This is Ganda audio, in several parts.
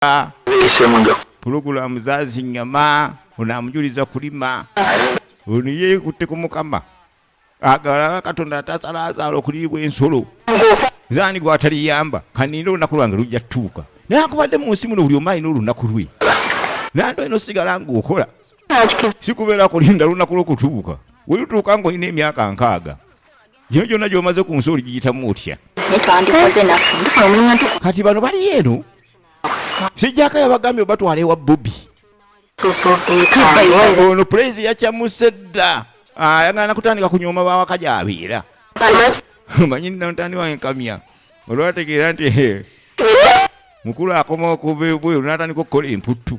kutunda pulogulaamu zazinyama ono amujuliza kulima ono yeekutte ku mukama agalaba katonda atasalazaala okuliibwa ensolo zani gwataliyamba kaninde olunaku lwange lujja tutuuka naye akubadde mu nsi muno buli omu alina olunaku lwe nando eno sigala ngaokola sikubeera kulinda lunaku lwokutuuka welutuuka ngaolina emyaka nkaaga gino gyonna gyomaze ku nsi oligiyitamu otya kati bano bali eno sijjaka yabagambye obatwala ewa bobi ono pulezi yakyamuse dda ah, ayagala nakutandika kunyooma bawaka gyabeera manyi nantani wange kamya olwategeera nti mukulu akoma okuva ebweru natandika okukola emputtu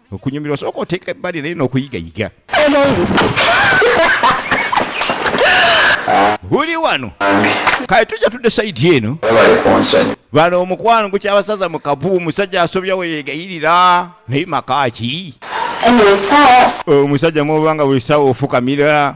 okunyumirwa sooka oteeka ebbali naye n'okuyigayiga buli wano kale tujja tudde sayidi eno bano omukwano gukyabasaza mu kabu omusajja asobya weyegayirira naye makaaki omusajja mwobanga buli sawa ofukamira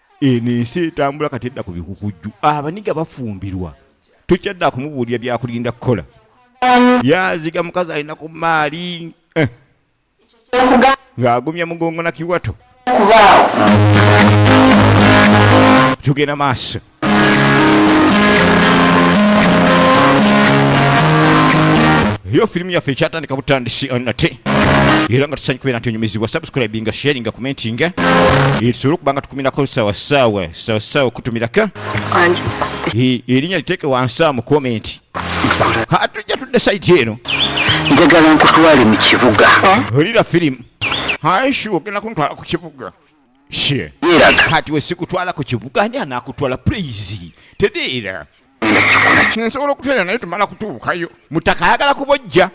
eno ensi etambula kati edda ku bikukujju abaniga bafumbirwa tokyadda kumubuulira byakulinda kukola yaziga mukazi alina ku maali eh. ng'agumya mugongo na kiwato tugenda maaso eyo firimu yaffe ekyatandika butandisi nate era nga tusanyikubera nti onyumizibwa subscribe nga sharing nga commenting tusobole okuba nga tukumirako sawasawa sawasawa okutumirako erinnya liteeke wansi mu komenti hatujja tudde saiti eno njagala nkutwale mu kibuga olira firimu haishu ogenda kuntwala ku kibuga kati wesikutwala ku kibuga ani anakutwala please tedeera nsobola okutwera naye tumala kutuukayo mutaka ayagala kubojja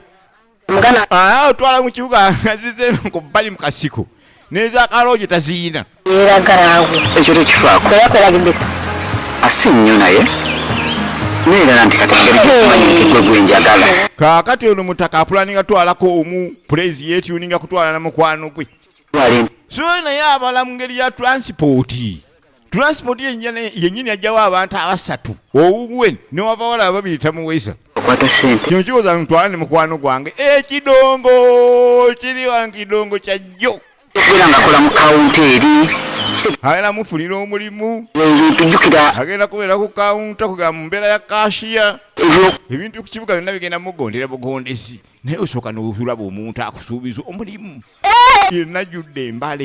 mugana ah otwala mu kibuga azize ku bali mu kasiko neza kaloje taziyina era garawo ekyo tekifaako era kwelagidde asi nnyo naye neerala nti kati ngeri gyokumanyi nti gwe gwenjagala kaakati ono mutaka apulaninga twalako omu pulezi yetuninga kutwala na mukwano gwe so naye abala mu ngeri ya transipooti transport yenyini ajjawo abantu abasatu owuwe newabawala ababiri tamuweza kino kiwoza ntwala ne mukwano gwange ekidongo kiri wange kidongo kyajjo era ngakola mu kawunta eri agenda mufunira omulimu agenda kubeera ku kawunta kugamba mu mbeera ya kashiya ebintu ku kibuga byonna bigenda mugondera bugondezi naye osooka nokulaba omuntu akusuubiza omulimu yenna judde embale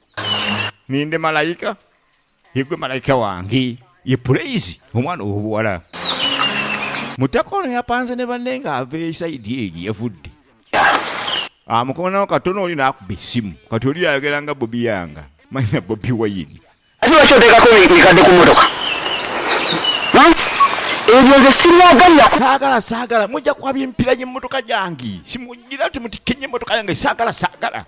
ninde malayika yegwe malayika wange ye pulayizi omwana owobuwala mutaka ono yapanze ne banne nga ava esaidi eyo gye yavudde amukonawo ah, katono oli nakuba esimu kati oli ayogera nga bobi yanga manya bobi wayini ati lwaki oteekako mikadde ku motoka ebyo nze sibyagalira saagala saagala mujja kwabya emipira gy'emmotoka gyange simugira ti mutikenye emmotoka yange saagala saagala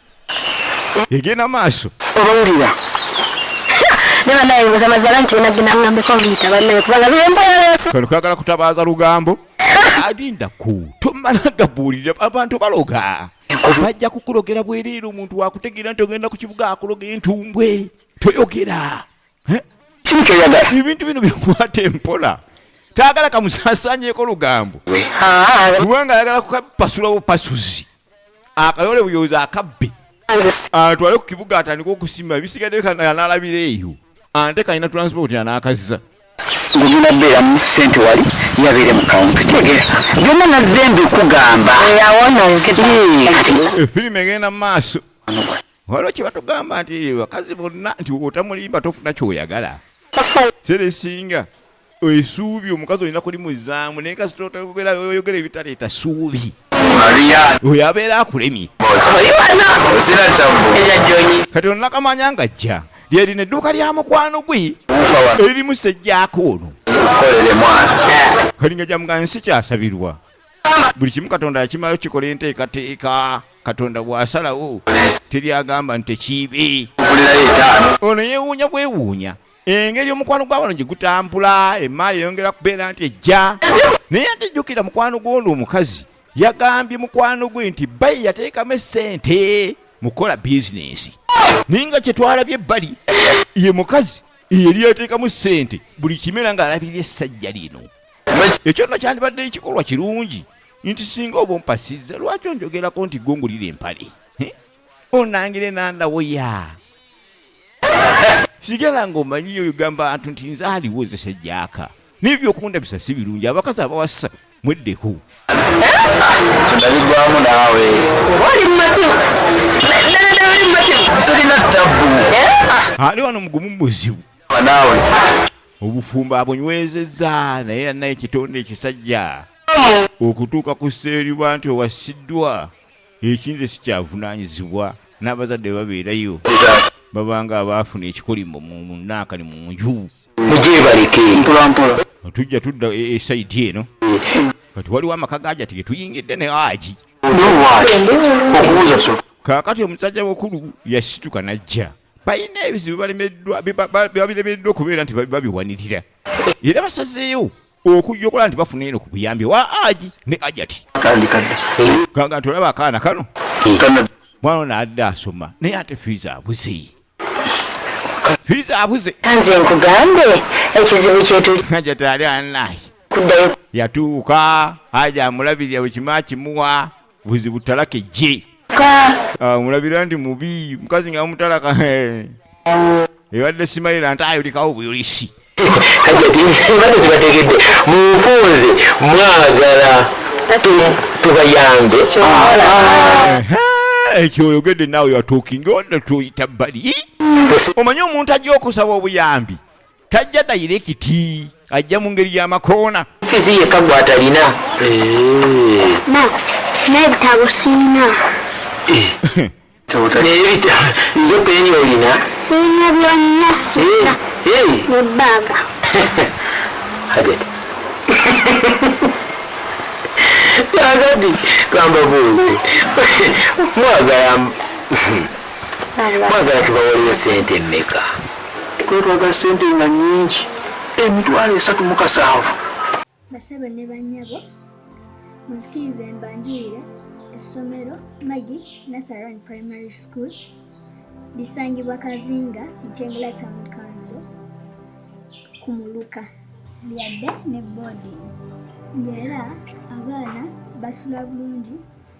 egenda maaso obawulira kwagala kutabaaza lugambo alinda ku tomala gabuulira abantu baloga bajja kukulogera bwereere omuntu wakutegeera nti ogenda ku kibuga akuloga entumbwe toyogera ebintu bino bikwata empola tayagala kamusasanyeko lugambo kubanga ayagala kukapasulawo pasuzi akayole buyoza akabbe atwale ku kibuga atandika okusima ebisigadde kanalabira eyo ante kalina transport anakazza ngumina beeramu sente wali yabeere mu kawunti tegera byonna nazze mbikugamba efirimu egenda mu maaso waliwo kyebatugamba nti bakazi bonna nti otamulimba tofuna kyoyagala seresinga esuubi omukazi olina kulimuzaamu naye kasitotaoyogera ebitaleeta suubi oyo abeera akulemye kati onakamanya nga jja lyerina edduuka lya mukwano gwe eririmu sejjaako ono kalinga jamuga nsi kyasabirwa buli kimu katonda yakimayo kikola enteekateeka katonda bwasalawo teri agamba nti tekiibe ono yewuunya bwewuunya engeri omukwano gwabano gye gutambula emaali eyongera kubeera nti ejja naye atejjukira mukwano gwono omukazi yagambye mukwano gwe nti bayi yateekamu esente mukukola bizinensi naye nga kyetwalabye ebbali ye mukazi eyeri yateekamu sente buli kimera ng'alabirira essajja lino ekyo nno kyandibadde ekikolwa kirungi nti singa oba ompasizza lwaki onjogerako nti gongulira empale onangire nandawoya sigala nga omanyiyo ogamba antu nti nze aliwo nze sejjaka naye byokundabisa si birungi abakazi abawasa mweddeko tunabigwamu naawe oli mumativu sirina tabbu eh? ah, ali wano mugumu muzibu naawe obufumbo abunywezezza naye anna ekitonde ekisajja okutuuka ku seeriba nti owasiddwa ekinze sikyavunaanyizibwa n'abazadde babeerayo babanga abaafuna ekikolimo mu naakani mu nju mugyebaleke mpolampola tujja tudda esaidi e, e eno kati waliwo amaka gaja tege tuyingidde ne aji kaakati omusajja mukulu yasituka n'ajja balina ebizibu balemeddwa babiremereddwa okubeera nti babiwanirira era basazeewo okujja okola nti bafuna eno ku buyambi wa aji ne ajati kanga nti olaba akaana kano mwana ono adde asoma naye ate fiiza abuze fiiza abuze nze nkugambe ekizibu kyetuli ajati ali anayi yatuuka aja amulabirira buli kimu akimuwa buzibu talaka ejje ah, mulabira nti mubi mukazi nga mutalaka ebadde simayira nti ayolikawo buyolisi kajati mbadde zibategedde munfunze mwagala tubayambe ekyo oyogedde naawe yatuukinga onda tuyita bali omanyi omuntu ajja okusaba obuyambi tajja dayirekiti ajja mu ngeri y'amakoona fizi yeka gwatalina n'ebitabo siina nze peni olina siina byonna siina nebbaaga hajati agadi gamba buuzi mwagala mwagala tubawoleyo sente mmeka kwetwaga sente nga nyingi emitwalo esatu mukasanvu basabo ne banyabo munzikirize mbanjulire essomero magi nasaran primary school lisangibwa kazinga jengula town council ku muluka lyadde ne boodi ngaera abaana basula bulungi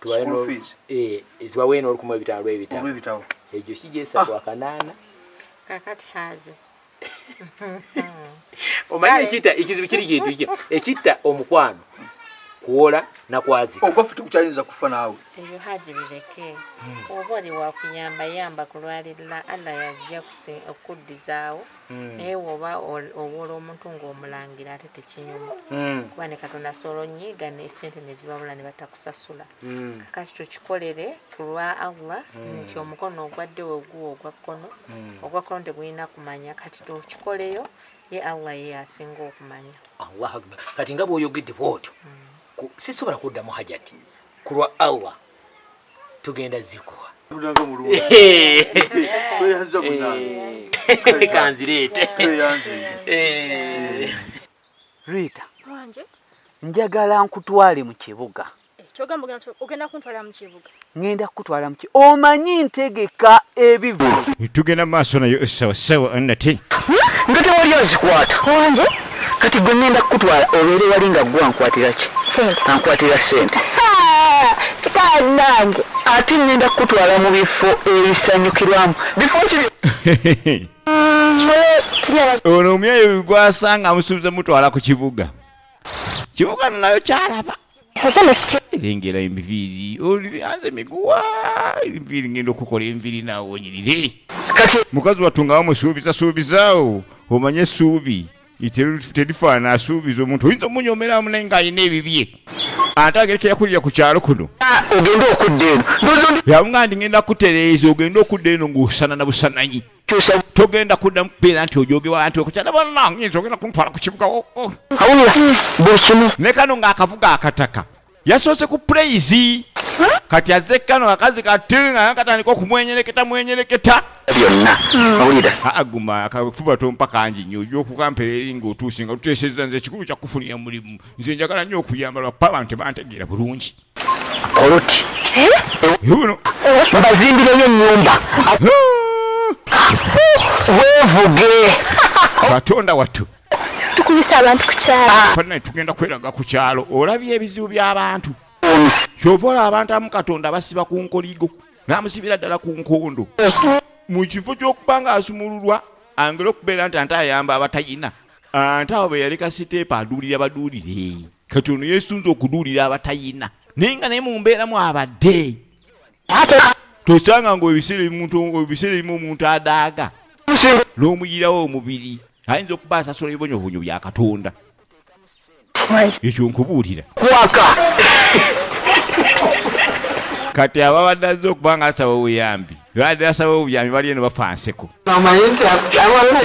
tubawe n'olukumu ebitabo lw'ebitabo egyo kigyesa kwa ah. kanaana kakati haja omanyi ekitta ekizibu kiri kintu ki ekitta omukwano kuwola nakwazika ogwafe tekukyayinza kufa naawe ebyo haji bireke hmm. oba oli wakuyamba yamba kulwalirira allah yajja okuddizaawo hmm. naye woba owola omuntu ngaomulangira ate tekinyuma hmm. kuba ne katonda soolo nyiiga nesente nezibabula nebatako kusasula mm. kakati tukikolere ku lwa allah mm. nti omukono ogwadde weguwa ogwa kkono mm. ogwa kkono tegulina kumanya kati tukikoleyo ye allah ye asinga okumanya allah akbar kati nga bwoyogedde bwotyo mm. sisobola kuddamu hajati ku lwa allah tugenda zikuwa kanzireete Rita. Wanje. Njagala nkutwale mu kibuga. Eh, Kyogamba ogenda ogenda kuntwala mu kibuga. Ngenda kukutwala mu kibuga. Omanyi ntegeka ebivu. Tugenda maaso nayo sawa sawa annate. Nga tewali azikwata. Wanje. Kati gwe ngenda kukutwala obeere wali nga gwa nkwatira ki? Sente. Ankwatira sente. Kikawa nange. Ate ngenda kukutwala mu bifo ebisanyukirwamu. Bifo ki? ono omyayo gwasanga amusuubiza mutwala ku kibuga kibuga nayo kyalaba lengera enviiri olianze miguwa enviiri ngenda okukola enviiri naawonyirire mukazi wattu nga wamusuubiza suubizaawo omanye essuubi terifaana asuubiza omuntu oyinza omunyomeramu naye ng'alina ebibye ate agereka yakulira ku kyalo kuno ah, ogende okudda eno yabunga ndi ngenda kutereeza ogende okudda eno ng'osana na busananyi togenda kudda mukubeera nti ojogewa nti okukyala banange nze ogenda kuntwala ku kibuga oh, oh. awulira buli kimu ne kano ng'akavuga akataka yasoose ku praise kati azze kano akazi kati nga katandika okumwenyereketa mwenyereketa byonna hmm. owulira aguma akafuba tompa kangi nyo ojja okukampera eri ngaotuuse nga tuteeseza nze ekikulu kyakufunira mulimu nze njagala nnyo okuyamba lwakuba abantu tebantegeera bulungi koloti uno mbazimbireyo enyumba wevuge katonda wattu tukubisa abantu ku kyalo ah. tugenda kweraga ku kyalo olabye ebizibu by'abantu kyova olaba abantu amu katonda basiba ku nkoligo namusibira ddala ku nkondo mu kifo ky'okuba nga asumululwa angera okubeera nti ante ayamba abatayina ante awo beyali kasiteepa aduulira baduulire kati ono yesunza okuduulira abatayina naye nga naye mu mbeeramu abadde ate tosanga nga ebiseera ebimuntu ebiseera ebimu omuntu adaaga n'omuyirawo omubiri ayinza okuba asasula ebibonyobonyo bya katonda ekyo nkubuulira kwaka kati ababadde azze okuba nga asaba obuyambi badde asaba obuyambi bali eno bafa nseko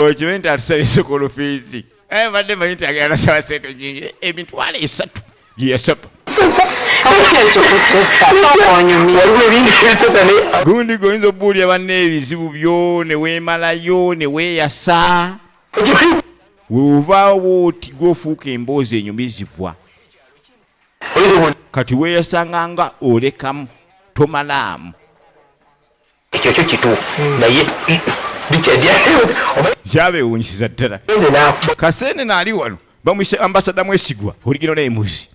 okimanyi nti atusabye sokolofiizi Eh, mbadde manyi nti agenda nasaba sente nyingi emitwalo esatu gyeyasaba gundi goyinza obuulira banna ebizibu byo neweemalayo neweeyasa weovaawo oti gwofuuka emboozi enyumizibwa kati weeyasanga nga olekamu tomalaamu ekyo kyo kituufu hmm. naye kyabewunyisiza ddala kasene naali wano bamwise ambasada mwesigwa oligino naye muzi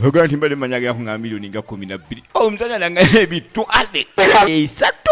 ogamba nti mbadde manya gako nga miliyoni nga kumi nabbiri omusajja oh, nanga ebitwale esatu